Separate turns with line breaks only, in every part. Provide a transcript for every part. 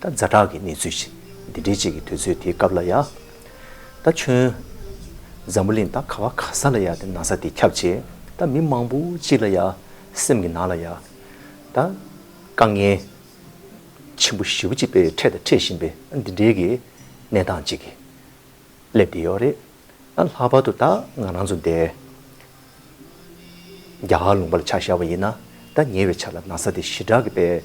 ད་རྫ་བྲག་གི་གནས་ཚུལ་བཞིན་འདི་འདྲའི་ཅིག་གི་དུས་ཚོད་དེའི་སྐབས་ལ་ཡ། ད་ཁྱོད། འཛམ་བུ་གླིང་ད་ག་བ་ག་ས་ལ་ཡ་དེ་ན་ས་དེ་ཁྱབ་བྱེད་ད་མི་མང་པོ་ཅིག་ལ་ཡ། སེམས་ཀྱི་ནང་ལ་ཡ། ད། དཀའ་ངལ། ཆེན་པོ་བཞི་བོ་ཅིག་པས་འཕྲད་དང་འཕྲད་བཞིན་པའི་འདི་འདྲའི་གི་གནས་སྟངས་ཅིག་གི་སླེབས་བསྡད་ཡོད་རེད། ལྷག་པར་དུ་ད་ང་རང་ཚོ་འདས། རྒྱ་གར་ལུང་པ་ལ་ཆ་ཤར་བ་ཡིན་ན་ད་ཉེ་བའི་ཆ་ལ་ན་ཚ་དེ་ཞི་དྲག་གི་པས།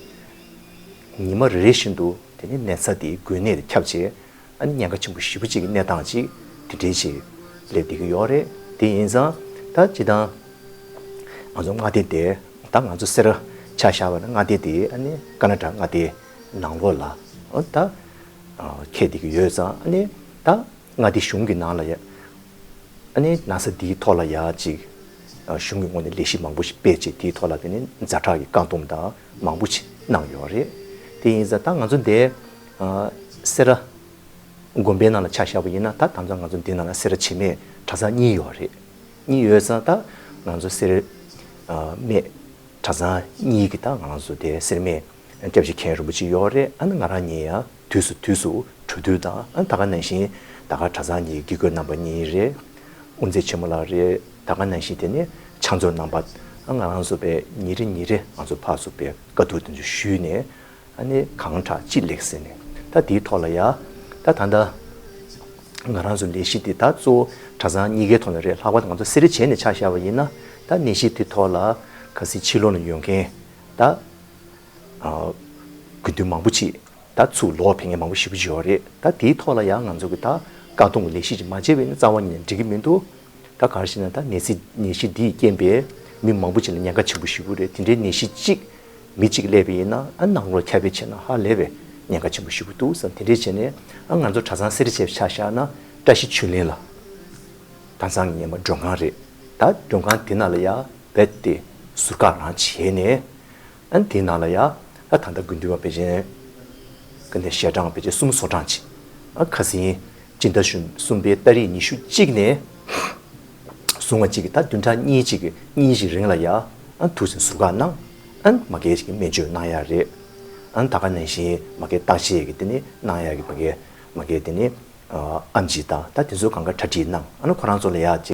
ཉི་མ་རེ་རེ་བཞིན་དུ་དེ་ནི་ནད་ཚ་དེའི་འགོས་ནད་དེ་ཁྱབ་ཆེ། ཨ་ནི་ཉེན་ཁ་ཆེན་པོ་བཞི་བོ་གཅིག་གི་གནས་སྟངས་ཅིག་དེ་འདྲའི་ཆེད་ལས་བསྡད་ཀྱི་ཡོད་རེད། དེ་ཡིན་ཙང་ད་སྤྱི་དང། ང་ཚོ་མངའ་སྡེ་དེ་ད་ང་ཚོ་སེར་ཆ་ཤར་བ་ན་མངའ་སྡེ་དེ་ཨ་ནི་ཀ་ན་ཀྲ་མངའ་སྡེ་ནང་ལོགས་ལ་ད་ཁད་བསྡད་ཀྱི་ཡོད་ཙང་ཨ་ནི་ད་ལྔ་འདི་གཞུང་གི་ནང་ལ་ཡ། ཨ་ནི་ན་བཟའ་འདིའི་ཐོག་ལ་ཡ་གཅིག། གཞུང་གི་ངོས་ནས་ལས་གཞི་མང་པོ་ཞིག་སྤེལ་རྗེས་དེའི་ཐོག་ལ་དེ་ནི་མཛའ་གྲགས་ཀྱི་བཀག་སྡོམ་དང་མང་པོ་ཞིག་གནང་ཡོད་རེད། དེ་ཡིན་ཟ་ད་ང་ཚོ་འདས། སེ་ར། དགོན་པའི་ནང་ལ་ཆ་བཞག་པ་ཡིན་ན་ད་དམ་ཟ་ང་ཚོ་འདི་ནང་ལ་སེ་ར་བྱེས་སྨད་གྲྭ་ཚང་གཉིས་ཡོད་རེད། གཉིས་ཡོད་ཟ་ད་ང་ཚོ་སེ་ར། སྨད། གྲྭ་ཚང་གཉིས་ཀྱི་ད་ང་ཚོ་འདས་སེ་ར་སྨད་སྐྱབས་རྗེ་མཁན་རིན་པོ་ཆེ་ཡོད་རེད་ཨ་ནི་ང་རང་ཉིད་ཡ། དུས་སུ་དུས་སུ་གྲོས་བསྡུར་དང་ད་ག་ནང་བཞིན་ད་ག་གྲྭ་ཚང་གི་དགེ་བསྐོས་རྣམ་པ་གཉིས་རེད། དབུ་མཛད་ཆེན་མོ་ལགས་རེད་ད་ག་ནང་བཞིན་དེ་ནས་ཕྱག་མཛོད་རྣམ་པ་ང་རང་ཚོ་པས་ཉིན་རེ་ཉིན་རེ་ང་ཚོ་ཕག་གསུབ་པའི་དཀའ་སྡུག་དེ་ཚོ་ཞུས་ནས་ཨ་ནི་གང་དྲག་ཅི་ལེགས་ཟེར་ནས་ད་དེའི་ཐོག་ལ་ཡ་ད་ད་ད་ང་རང་ཚོ་ལས་གཞི་དེ་ད་གཙོ་བོ་གྲྭ་ཚང་གཉིས་ཀའི་ཐོག་ལ་རེད་ལྷག་པར་དུ་ང་ཚོ་སེ་རེ་བྱས་ནས་ཕྱག་བཞག་པ་ཡིན་ན་ད་གནས་གཞི་དེ་ཐོག་ལ་ག་སྲིད་ཕྱི་ལོག་ནས་ཡོང་མཁན་ད། དགེ་འདུན་མང་པོ་ཅིག་ད་ཚུགས་ལོ་བ་བེ་ངན་མང་པོ་ཞིག་བཞི་བ་རེད་ད་དེའི་ཐོག་ལ་ཡང་ང་ཚོ་གི་ད་བཀའ་གཏོང་གི་ལས་གཞི་ཅིག་མ་བྱས་པས་ནི་རྩ་བ་ཉིད་ནས་འགྲིག་གི་མི་འདུག་ད་གར་ཞིག་ན་ད་ནད་གསིག་ནད་གཞི་འདིས་རྐྱེན་པས་མི་མང་པོ་ཅིག་ལ་ཉེན་ཁ་ཆེན་པོ་ཞིག་ཡོད་རེད་དེ་འདྲའི་ནད་གཞི་ཅིག་མི་གཅིག་སླེབས་པས་ཡིན་ན་ཨ་ནང་ལོ་ཁྱབ་པས་བྱས་ན་ཧ་ལས་པའི་ཉེན་ཁ་ཆེན་པོ་ཞིག་འདུག་བསམ་དེ་འདྲས་བྱས་ནས་ཨ་ང་ཚོ་གྲྭ་ཚང་སེར་བྱེས་ཆ་བཞག་ན་བཀྲ་ཤིས་ཆོས་གླིང་ལ་གྲྭ་ཚང་ངེས་མ་མགྲོན་ཁང་རེད་ད་མགྲོན་ཁང་དེ་ན་ལ་ཡ་བད་དེ་ཟུར་བཀག་རང་བྱས་ནས་ཨན་དེའི་ནང་ལ་ཡ། ཨ་ད་ལྟ་དགུན་འདུལ་བ་བེ་ཅན། ཀ་ནས་ཞལ་གྲངས་བེ་ཅན་གསུམ་སོ་གྲངས་གཅིག། ཨ་ཁ་སིན། སྤྱི་ཟླ་གཞོན་གསུམ་པའི་ཏཱ་རེས་ཉི་ཤུ་གཅིག་ནས། བཟུང་བ་གཅིག་ད་བདུན་ཕྲག་གཉིས་གཅིག་གཉིས་ཤིག་རིང་ལ་ཡ། ཨན་དུས་ཟུར་བཀག་གནང། ཨན་མ་གས་ཀྱི་སྨན་བཅོས་གནང་ཡ་རེད། ཨན་ད་ག་ནང་བཞིན་མ་གས་བརྟག་དཔྱད་ཀྱི་དེ་ནི་གནང་ཡ་གི་བ་གས། མ་གས་དེ་ནི། ཨམ་ཅིག་ད་ད་དེ་ཚོ་གང་ག་གྲ་སྒྲིག་གནང་ཨ་ན་ཁོ་རང་ཚོ་ལ་ཡ།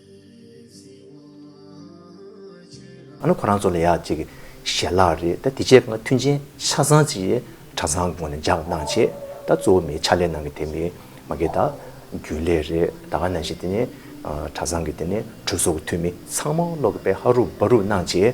ཨ་ནུ་ཁོ་རང་ཚོ་ལ་ཡག་ཅིག་ཞལ་ལག་རེད་ད་དེ་རྗེས་ང་མཐུན་རྐྱེན་ཆ་ཚང་ཅིག་གྲྭ་ཚང་སྒོ་ནས་འཇགས་གནང་བྱེད་ད་གཙོ་བོ་མིའི་ཕྱག་ལས་གནང་གི་དེ་མིན་མ་གི་ད་རྒྱུན་ལས་རེད་ད་ག་ནང་བཞིན་དེ་ནས་གྲྭ་ཚང་གི་དེ་ནས་གྲོས་ཚོགས་ཀྱི་འཐུས་མི་ཚང་མ་ཀློག་གི་པའི་ཧ་རུག་སྦ་རུག་གནང་བྱེད།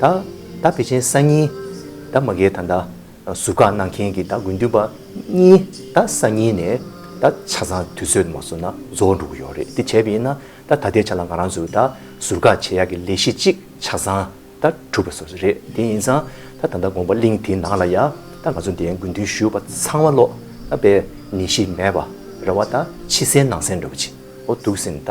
ད་ད་བི་ཆེན་ས་གཉིས། ད་མ་གའི་ད་ད་ཟུར་བཀག་གནང་མཁན་གྱི་ད་དགུན་དུས་པ་གཉིས་ད་ས་གཉིས་ནས་ད་ཆ་ཚང་དུས་ཚོད་མ་བཟོ་ན་བཟོ་འགྲོ་གི་ཡོད་རེད་དེ་བྱས་པས་ན་ད་ད་ལྟའི་ཆ་ལ་ང་རང་ཚོས་ད་ཟུར་བཀག་བྱེད་ཡག་གི་ལས་གཞི་གཅིག་ཆ་ཚང་ད་གྲུབ་པ་བཟོ་ས་རེད་དེ་ཡིན་ཙང་ད་ད་ལྟ་དགོངས་པ་གླིང་དེ་ནང་ལ་ཡ་ད་ང་ཚོ་འདའི་དགུན་དུས་བཞུགས་པ་ཚང་མ་ལོག་ད་པའི་ནད་གཞི་མེད་པ་རེ་བ་ད་ཕྱི་གསལ་ནང་གསལ་འགྲོ་གི་བྱེད་འོ་འདུག་སེམས་ད་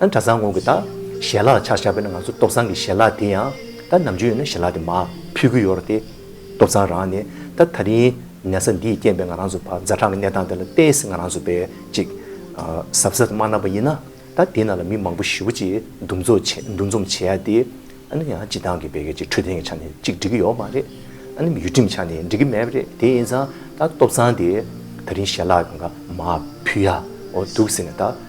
གྲྭ་ཚང་གོང་གི་ད་ཞལ་ལག་ཆག་ཆག་པས་ན་ང་ཚོ་སྟོབས་ཚང་གི་ཞལ་ལག་དེ་ཡང་ད་ནམ་རྒྱུན་ཡོད་ན་ཞལ་ལག་དེ་མ་ཕུད་གི་ཡོད་རེད་དེ། སྟོབས་ཚང་རང་ནི་ད་ད་རིང་ནད་ཚ་འདིས་རྐྱེན་པས་ང་རང་ཚོ་བ་མཛའ་གྲངས་ཀྱི་གནས་སྟངས་དེ་ལ་བལྟས་ཟིན་ང་རང་ཚོ་བས་ཅིག་གཟབ་གཟབ་དུ་མ་གནང་བ་ཡིན་ན་ད་དེ་ན་ལ་མི་མང་པོ་བཞི་བོ་ཅིག་འདུ་འཛོམས་འདུ་འཛོམས་བྱེད་ཡ་དེ། ཨ་ནི་ཡང་སྤྱི་བཏང་གི་བེ་གལ་ཅིག་འཕྲོད་བསྟེན་གྱི་ཆ་ནས་ཅིག་འགྲིག་གི་ཡོད་མ་རེད། ཨ་ནི་མི་ཡུལ་ཁྲིམས་ཆ་ནས་འགྲིག་གི་མེད་པ་རེད་དེ་ཡིན་ཙང་ད་སྟོབས་ཚང་དེ་ད་རིང་ཞལ་ལག་འགའ་མ་ཕུད་ཡ་འོ་འདུག་ཟེར་ནས་ད་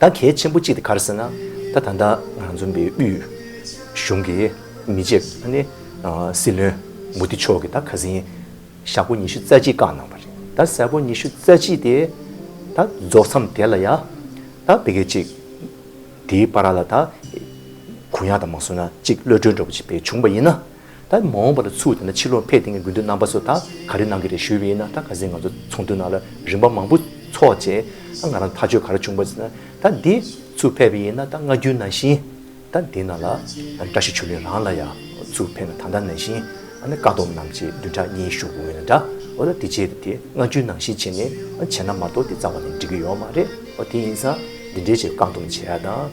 ད་གལ་ཆེན་པོ་གཅིག་དེ་གར་ཟེར་ན། ད་ད་ལྟ་ང་རང་འཛོམས་པའི་དབུས་གཞུང་གི་མི་བཅས་ཁག་ནི་སྲིད་བློན་མོ་དི་མཆོག་གིས་ད་ག་ཟིན་ཞག་པོ་ཉི་ཤུ་རྩ་གཅིག་བཀག་གནང་བ་རེད། ད་ཞག་པོ་ཉི་ཤུ་རྩ་གཅིག་དེ་ད་རྫོགས་མཚམས་དེ་ལ་ཡ་ད་བོད་སྐད་ཅིག་དེའི་པ་ར་ལ་ད་གུ་ཡངས་དང་མ་སོང་ན་གཅིག་གློད་གྲོལ་འགྲོ་བ་ཅིག་བེད་བྱུང་བ་ཡིན་ན། ད་མ་འོངས་པ་ལ་ཚུགས་དེ་ན་ཕྱི་ལོག་འཕེལ་ཐེངས་ཀྱི་དགོས་འདུན་རྣམ་པ་ཚོ་ད་ག་རེ་གནང་གི་རེད་ཞུས་པ་ཡིན་ན་ད་ག་ཟེ་ང་ཚོ་ཚོགས་འདུ་ནང་ལ་རིམ་པ་མང་པོ་ཚོགས་རྗེས་ད་ང་རང་ཐག་གཅོད་ག་རེ་བྱུང་པ་ཟེར་ན་ད་འདི་ཚུགས་ཕེབས་པ་ཡིན་ན་ད་སྔ་རྒྱུན་ནང་བཞིན་ད་འདི་ནང་ལ་བཀྲ་ཤིས་ཆོས་གླིང་རང་ལ་ཡང་ཚུགས་ཕེབས་ན་ད་ལྟ་ནང་བཞིན་ཨ་ནི་བཀའ་སྡོམ་རྣམས་ཀྱི་བདུན་ཕྲག་གཉིས་བཞུགས་དགོས་ངེས་ན་འདྲ་འོ་ད་དེ་རྗེས་དེ་སྔ་རྒྱུན་ནང་བཞིན་བྱས་ནས་བྱས་ན་མ་གཏོགས་དེ་རྩ་བ་ནས་འགྲིག་གི་ཡོད་མ་རེད་འོ་དེ་ཡིན་ཙང་འདི་འདྲའི་ཆེད་བཀའ་སྡོམ་བྱས་ཡ་དང།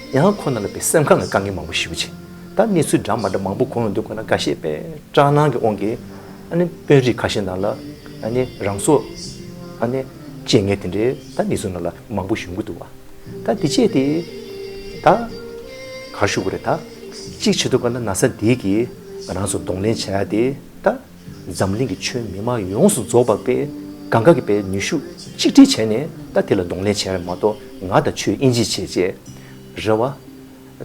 ཡང་ཁོ་ན་ལ་བའི་སེམས་ཁམས་ལ་དཀའ་ངལ་མང་པོ་ཞི་བ་བྱས། ད་གནས་ཚུལ་འདྲ་མ་འདྲ་མང་པོ་གོ་འོང་འདུག་ཁོ་ན་འགའ་ཤས་པས་སྐྲག་སྣང་གིས་འོང་གི། ཨ་ནི་དཔོན་རིགས་ཁ་ཤས་ནང་ལ་ཨ་ནི་རང་སོ། ཨ་ནི་བཅད་ངས་དེ་འདྲའི་ད་གནས་ཚུལ་ནང་ལ་མང་པོ་བཞུགས་གི་འདུག་བ། ད་འདི་བཅད་དེ། ད། གར་བཞུགས་གི་རེད་ད། གཅིག་བྱེད་དུ་དཀའ་ན་ན་ཚ་འདིས་ཀྱིས་རང་སོ་གདོང་ལེན་བྱས་ཏེ་ད། འཛམ་གླིང་གི་ཆོས་མི་དམངས་ཡོངས་སུ་རྫོགས་པར་པའི་གང་གཱ་གི་པའི་ནུས་ཤུགས་གཅིག་སྒྲིལ་བྱས་ནས་ད་དེ་ལ་གདོང་ལེན་བྱས་པ་མ་གཏོགས་ང་དང་ཆོས་དབྱིན་ཇི་བྱས་རྗེས་རེད་བ།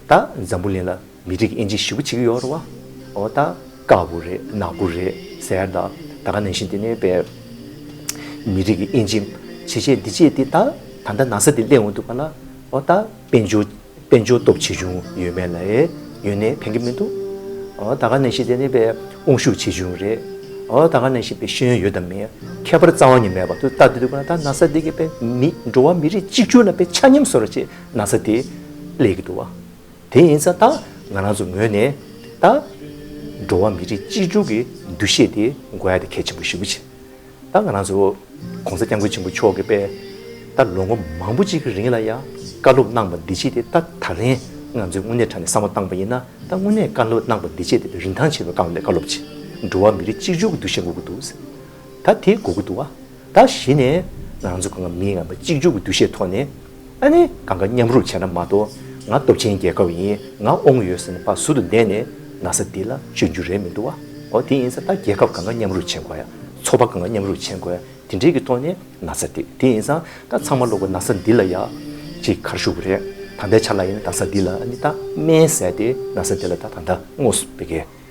ད་འཛམ་བུ་གླིང་ལ་མི་རིགས་དབྱིན་ཇི་ཞི་བུ་བྱེད་ཀྱི་ཡོད་རེད་བ། འོ་ད་དཀར་བོ་རེད་ནག་བོ་རེད་ཟེར་ད་ད་ག་ནང་བཞིན་དེ་ནས་པའི་མི་རིགས་དབྱིན་ཇི་བྱས་རྗེས་འདི་བྱས་དེ་ད་ད་ནང་ས་དེ་གླེང་འོང་འདུག་པ་ལ་འོ་ད་དཔལ་འབྱོར་དཔལ་འབྱོར་སྟོབས་ཆེ་ཆུང་ཡོད་མེད་ལ་ཡེ་ཡོད་ནས་ཕན་གྱི་མི་འདུག་ཨོ་ད་ག་ནས་ཤེས་དེ་ནི་པའི་དབང་ཤུགས་ཆེ་ཆུང་རེད་ཨོ་ད་ག་ནས་ཤེས་པའི་ཤེས་ཡོན་ཡོད་དམ་མེད་ཁྱད་པར་རྩ་བ་ཉིད་མེད་པར་དུ་ལྟ་དེ་འདུག་ད་ན་ས་དེ་གའི་པའི་མི་འགྲོ་བ་མི་རིགས་གཅིག་གྱུར་ལ་པའི་ཆ་སྙོམས་བཟོ་ར་ཆེད་ན་ས་དེ་ཀླད་ཀྱི་འདུག་བ་དེ་ཡིན་ས་ད་ང་རང་ཚོ་ངོས་ནས་ད་འགྲོ་བ་མི་རིགས་གཅིག་གྱུར་གྱི་འདུ་ཤེས་དེ་དགོས་ཡ་དེ་གལ་ཆེན་པོ་ཞིག་བུ་ཆེ། ད་ང་རང་ཚོ ྋགོང་ས ྋསྐྱབས་མགོན་ཆེན་པོ་མཆོག་གི་པས་ད་ལོ་ངོ་མང་པོ་གཅིག་གི་རིང་ལ་ཡང་བཀའ་སློབ་གནང་བ་འདི་ཕྱིས་ཏེ་ད་ད་རིང་ང་ཚོས་དངོས་གནས་དྲ་ནས་བསམ་བློ་བཏང་བ་ཡིན་ན་ད་དངོས་གནས་བཀའ་སློབ་གནང་བ་འདི་ཕྱིས་ཏེ་རིན་ཐང་ཆེ་བའི་བཀའ་སློབ་ཅིག་འགྲོ་བ་མི་རིགས་གཅིག་གཅོད་ཀྱི་འདུ་ཤེས་འགོག་གི་འདུག་ཟེར། ད་དེ་འགོག་གི་འདུག་ཨ། ད་གཞི་ནས་ང་རང་ཚོ་གང་ང་མི་ང་མ་གཅིག་གཅོད་ཀྱི་འདུ་ཤེས་ཐོག་ནས་ཨ་ནི་གང་ག་མཉམ་རུབ་བྱས་ན་མ་གཏོགས་ང་སྟོབས་ཆེན་རྒྱལ་ཁབ་ཡིན་ང་ཨོང་ཡོད་ཟེར་ནས་ཕ་ཟུར་དུ་འདས་ནས་ན་ས་འདི་ལ་བཅོས་རྒྱུ་རེད་མི་འདུག་བ་ཨོ་དེ་ཡིན་ས་ད་རྒྱལ་ཁབ་གང་ག་མཉམ་རུབ་བྱེད་དགོས་ཡ་ཚོགས་པ་གང་ག་མཉམ་རུབ་བྱེད་དགོས་ཡ་དེ་འདྲའི་གི་ཐོག་ནས་ན་ས་འདི་དེ་ཡིན་ས་ད་ཚང་མ་ལོག་གོ་ན་ས་འདི་ལ་ཡ་གཅིག་གར་ཞུགས་རེད་ད་ལྟའི་ཆ་ལ་ཡིན་ད་ས་འདི་ལ་ཨ་ནི་ད་སྨན་ཟས་དེ་ན་ས་འདི་ལ་ད་ད་ད་དངོས་སུ་བེ་གའི།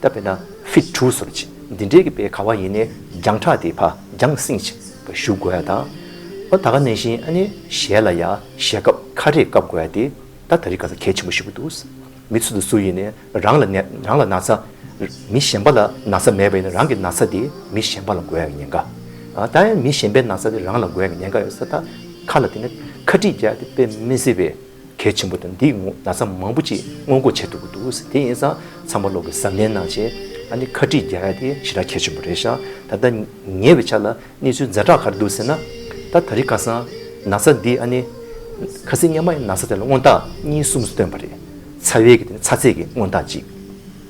བཏབ་པས་ན་བྷིད་དྷུ་སོར་བྱེད། འདི་འདྲའི་གི་པའི་ག་བ་ཡིན་ནས་རྒྱང་གྲགས་དེ་བྷ་རྒྱང་སིང་བྱེད་པ་གཞུག་དགོས་ཡ་དང། ཨོ་ད་ག་ནས་བཞིན་ཨ་ནེ་ཞལ་ལ་ཡ་ཞལ་སྐབས་ཁ་རས་བཀབ་དགོས་ཡ་དེ་ད་ད་རི་ག་ལ་གལ་ཆེན་པོ་ཞིག་གོ་འདུག། མི་ཚུལ་དུ་སུ་ཡིན་ནས་རང་ལ་རང་ལ་ན་ཚ། མི་གཞན་པ་ལ་ན་ཚ་མེད་པ་ཡིན་ན་རང་གི་ན་ཚ་དེ་མི་གཞན་པ་ལ་འགོས་ཡ་གི་ཉེན་ཁ། ད་ཡང་མི་གཞན་པའི་ན་ཚ་དེ་རང་ལ་འགོས་ཡ་གི་ཉེན་ཁ་ཡོད་ས་ད་ཁ་དྲིས་བརྒྱག་དེ་དཔེ་མི་སྲིད་པས། གལ་ཆེན་པོ་དང་འདིས་ངོ་ན་ཚ་མང་པོ་ཅིག་སྔོན་འགོག་བྱས་ཐུབ་ཀྱི་འདུག་དེ་ཡིན་ཙང་ཚང་མ་ལོག་གིས་གཟབ་ནན་གནང་ཆེད་ཨ་ནི་ཁ་དཀྲིས་བརྒྱག་ཡ་དེ་ཞེ་དྲག་གལ་ཆེན་པོ་རེད་ཤག་ད་ལྟ་ཉེ་བའི་ཆ་ལ་གནས་ཚུལ་འཛའ་དྲག་གར་འདུག་ཟེར་ན་ད་ད་རི་ཁ་སང་ན་ཚ་འདི་ཨ་ནི། ཁ་སི་སྙ་མ་ཡི་ན་ཚ་དེ་ལ་མངོན་རྟགས་གཉིས་གསུམ་སྟོན་པ་རེད་ཚ་བའི་གི་དེ་ནི་ཚ་ཚད་ཀྱི་མངོན་རྟགས་གཅིག།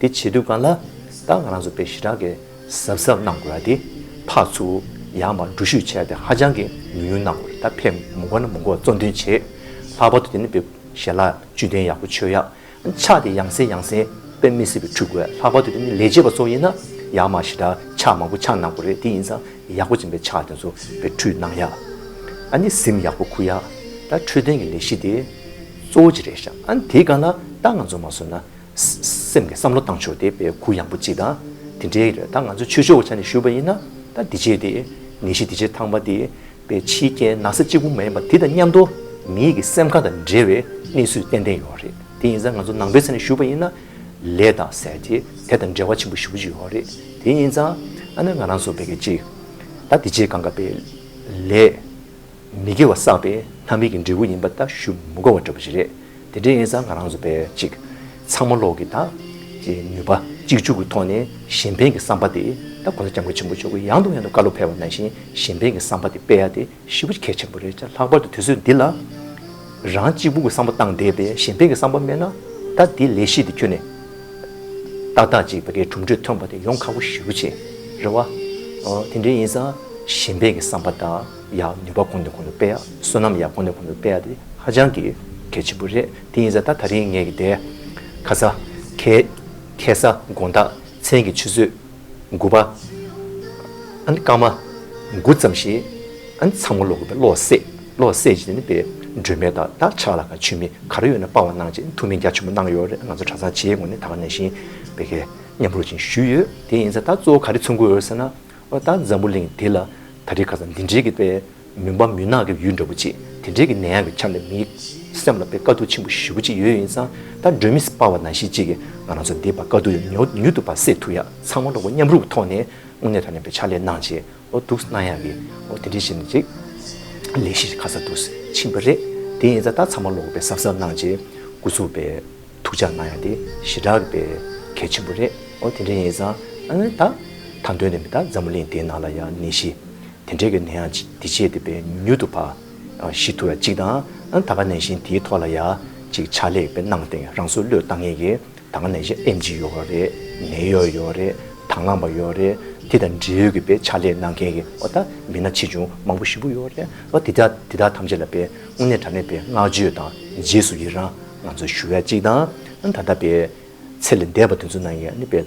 དེ་བྱེད་དུས་གང་ལ་དྭགས་ང་རང་ཚོ་པའི་ཞི་དྲག་གི་གཟབ་གཟབ་གནང་དགོས་ར་དེ་ཕག་ཚུ་ཡང་མ་འགྲུ་ཤུགས་ཆེ་དེ་ཧ་ཅང་གི་ཉུང་ཉུང་གནང་དགོས་རེད་ད་ཕེབས་མུ་འགོ་ན་མུ་འགོ་གཙོ་འདོན་བྱེད་ལྷག་པར་དུ་དེ་ནི་པའི་ཞལ་ལག་བཅུད་ལྡན་ཡག་པོ་མཆོད་ཡ་ཕྱག་དེ་ཡང་སེ་ཡང་སེ་པའི་མི་སྲིད་པའི་འཁྲུ་དགོས་ལྷག་པར་དུ་དེ་ནི་ལས་བྱེད་པ་ཚོ་ཡིན་ན་ཡང་མ་ཞི་དྲག་ཕྱག་མང་པོ་ཕྱག་གནང་དགོས་རེད་དེ་ཡིན་ཙང་ཡག་པོ་ཅན་པའི་ཕྱག་དེ་ཚོ་པའི་འཁྲུ་གནང་ཡ་ཨ་ནི་གཟིམ་ཡག་པོ་ཁུག་ཡ་ད་འཕྲོད་བསྟེན་གི་ལས་གཞི་དེ་གཙོ་བོ་ཅི་རེད་ཤ་ཨ་ནི་དེ་གང་ལ་དྭགས་ང་ཚོ་མ་བཟོས་ན་སེམས་ཀྱི་བསམ་བློ་བཏང་ཆོག་དེ་བས་གུ་ཡངས་པོ་ཅི་ད། དེ་འདྲའི་རེད་ད་ང་ཚོས་ཆོས་ཕྱོགས་ཀྱི་ཆ་ནས་ཞུས་པ་ཡིན་ན་ད་འདི་བྱས་དེ། ངེས་ཤེས་འདི་བྱས་ཐང་པ་དེ་བས་ཕྱིའི་རྐྱེན་ན་ས་གཅིག་པུ་མ་ཡིན་པ་དེ་དང་མཉམ་དུ་མི་ཡིད་ཀྱི་སེམས་ཁ་དང་འབྲེལ་བའི་གནས་ཚུལ་ཏན་ཏན་ཡོད་རེད་དེ་ཡིན་ས་ང་ཚོ་ནང་པའི་ཆ་ནས་ཞུས་པ་ཡིན་ན། ལས་དང་ཟེར་དེ་དེ་དང་འབྲེལ་བ་ཆེན་པོ་ཞུ་གི་ཡོད་རེད་དེ་ཡིན་ཙང་ཨ་ནེ་ང་རང་ཚོ་བས་ཀྱི་ཅིག་ད་འདི་བྱས་གང་དགའ་བས་ལས། མི་དགེ་བ་བསགས་པའི་ལྷ་མིན་གྱི་འབྲས་བུ་ཡིན་པ་ལྟ་ཞུ་མི་གོ་བ་འདྲ་པོ་ཞིག་རེད། དེ་འདྲའི་ཡིན་ཙང་ང་རང་ཚོ་པས་ཅིག་ཚང་མ་ལོག་གི་ད། ཀྱི་ནུས་པ་གཅིག་ཆུག་གི་ཐོག་ནས་གཞན་ཕན་གྱི་བསམ་པ་དེ་ད་གོ་ས་སྐྱབས་མགོན་ཆེན་པོ་མཆོག་གིས་ཡང་དང་ཡང་དུ་བཀའ་སློབ་ཕེལ་བ་ནང་བཞིན་གཞན་ཕན་གྱི་བསམ་པ་དེ་སྤེལ་ཡ་དེ་ཤི་བོ་གལ་ཆེན་པོ་རེད་ལྕ་ལྷག་པར་དུ་དུས་ཚོད་འདི་ལ། རང་གཅིག་པུ་གྱི་བསམ་བློ་བཏང་བསྡད་པས་གཞན་ཕན་གྱི་བསམ་པ་དམན་ན་ད་དེ་ལས་གཞི་དེ་ཁྱོན་ནས་ཏག་ཏག་ཅིག་བ་རའི་གྲུབ་འབྲས་ཐོན་པ་དེ་ཡོང་ཁག་པོ་ཞུ་རུ་ཆེ་རེད་བ། དེ་འདྲའི་ཡིན་ཙང་གཞན་ཕན་གྱི་བསམ་པ་ད། ཡག་ནུས་པ་གོང་ནས་གོང་དུ་སྤེལ་ཡག་བསོད་ནམས་ཡག་གོང་ནས་གོང་དུ་སྤེལ་ཡག་དེ་ཧ་ཅང་གི་གལ་ཆེན་པོ་རེད་དེ་ཡིན་ས་ད་ད་རིང་ངས་ཀྱི་དེ། ཁ་ས། ཁེ། ཁེ་ས་དགོངས་དག་མཚན་གྱི་ཆུ་ཚོད། དགུ་པ། ཨ་ནི་སྐར་མ། དགུ་ཙམ་ཞིག། ཨ་ནི་ཚང་མ་ལོག་གི་པའི་ལོག་བསད་ལོག་བསད་ཅིག་ནི་པའི་སྒྲོན་མེ་དག་དག་ཆགས་ལ་ཁ་ཆུ་མིག་ག་རེ་ཡོད་ན་སྤང་བ་གནང་ཅིག་ཐུགས་མི་རྒྱ་ཆེན་པོ་གནང་ཡོད་རེད་ང་ཚོ་གྲྭ་ཚང་ཆེའི་ངོས་ནས་ད་ག་ནས་བཞིན་པའི་ཁེ་མཉམ་རོགས་བྱིན་ཞུས་ཡོད་དེ་ཡིན་ས་ད་གཙོ་བོ་ག་རེ་མཚོན་དགོས་ཡོད་ཟེར་ན། བ་དང་འཛམ་བུ་གླིང་འདི་ལ་ད་རེས་ཁ་སང་འདི་འདྲའི་གི་དཔེ་མུན་པ་མུན་ནག་གི་ཡུལ་འདྲ་བོ་ཅིག་དེ་འདྲའི་གི་ནད་ཡམས་ཀྱི་ཆ་ནས་མིའི་སེམས་ལ་དཔེ་དཀའ་སྡུག་ཆེན་པོ་ཞེ་བོ་ཅིག་ཡོད་ཡིན་ཙང་ད་སྒྲོན་མེ་སྤར་བ་ན་གཞི་གཅིག་གི་ང་རང་ཚོ་འདི་བར་དཀའ་སྡུག་ཡོད་མྱུར་དུ་བར་སེལ་ཐུབ་ཡག་ཚང་མ་འགྲོགས་པོ་མཉམ་རུབ་ཐོག་ནས་དངོས་གནས་ཐ་ན་པའི་ཕྱག་ལས་གནང་བྱས་ཨོ་འདུག་གནང་ཡག་གི་ཨོ་དེ་འདྲའི་ཞིག་ནས་ཅིག་ལས་གཞི་ཞིག་ཁ་སང་འདུག་ཕྱིན་པ་རེད་དེ་ཡིན་ཙང་ད་ཚང་མ་ལོག་པའི་གཟབ་གཟབ་གནང་བྱས་དགུ་ཚུགས་པའི། ཐུགས་ཅག་གནང་ཡ་དེ་ཞི་དྲག་པས་གལ་ཆེན་པོ་རེད་ཨོ་དེ་འདྲས་ཡིན་ས་ཨང་ད་ད་འདོད་ནས་མི་ད་འཛམ་བུ་གླིང་དེ་ནང་ལ་ཡ་ནད་ཞི་དེ་འདྲས་གི་ནད་ཡང་འདི་བྱས་དེ་བས་མྱུར་དུ་བ་ཞི་ཐུབ་ཡ་གཅིག་ད་ཨང་ད་ག་ནད་ཞི་དེའི་ཐོག་ལ་ཡ་གཅིག་ཕྱག་ལེགས་པའི་གནང་སྟེ་རང་སོ་བློས་བཏང་ངེས་གི་ད་ག་ནད་ཞི་ཨེམ་གཅིག་ཡོད་ཨོ་རེད་ནད་ཡོད་ཡོད་རེད་དང་བླངས་པ་ཡོད་རེད་དེ་དང་འབྲེལ་ཡོད་གི་བས་ཕྱག་ལེགས་གནང་མཁན་གི་ཨོ་ད་མི་སྣ་ཆེ་ཆུང་མང་པོ་ཞི་པོ་ཡོད་རེད་ཨོ་དེ་དག་དེ་དག་ཐམས་ཅད་ལ་བས་དངོས་གནས་དྲ་གནས་པའི་བསྔགས་བརྗོད་དང་རྗེས་སུ་ཡི་རང། ང་ཚོས་ཞུ་བའི་གཅིག་དང། ད་ལྟ་བའི། ཚེ་ལས་འདས་པ་དེ་ཚོ་ནང་གི་ནི་དཔལ།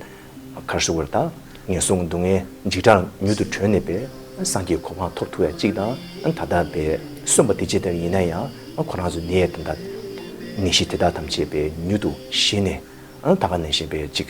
གར་སོགས་བར་དག་ངན་སོང་སྡུག་བསྔལ་འཇིགས་སྐྲག་མྱུར་དུ་གྲོལ་ནས་པའི། སངས་རྒྱས་གོ་འཕང་ཐོབ་ཐུ་བའི་གཅིག་དང། ད་ལྟ་བའི། གསོན་པ་དེ་ཅི་ལྟ་བུ་ཡིན་ན་ཡང་ཁོ་རང་ཚོ་ནད་དང། ནད་གཞི་དེ་དག་ཐམས་ཅད་པའི་མྱུར་དུ་ཞི་ནས། ད་ག་ནས་གཞན་པའི་གཅིག།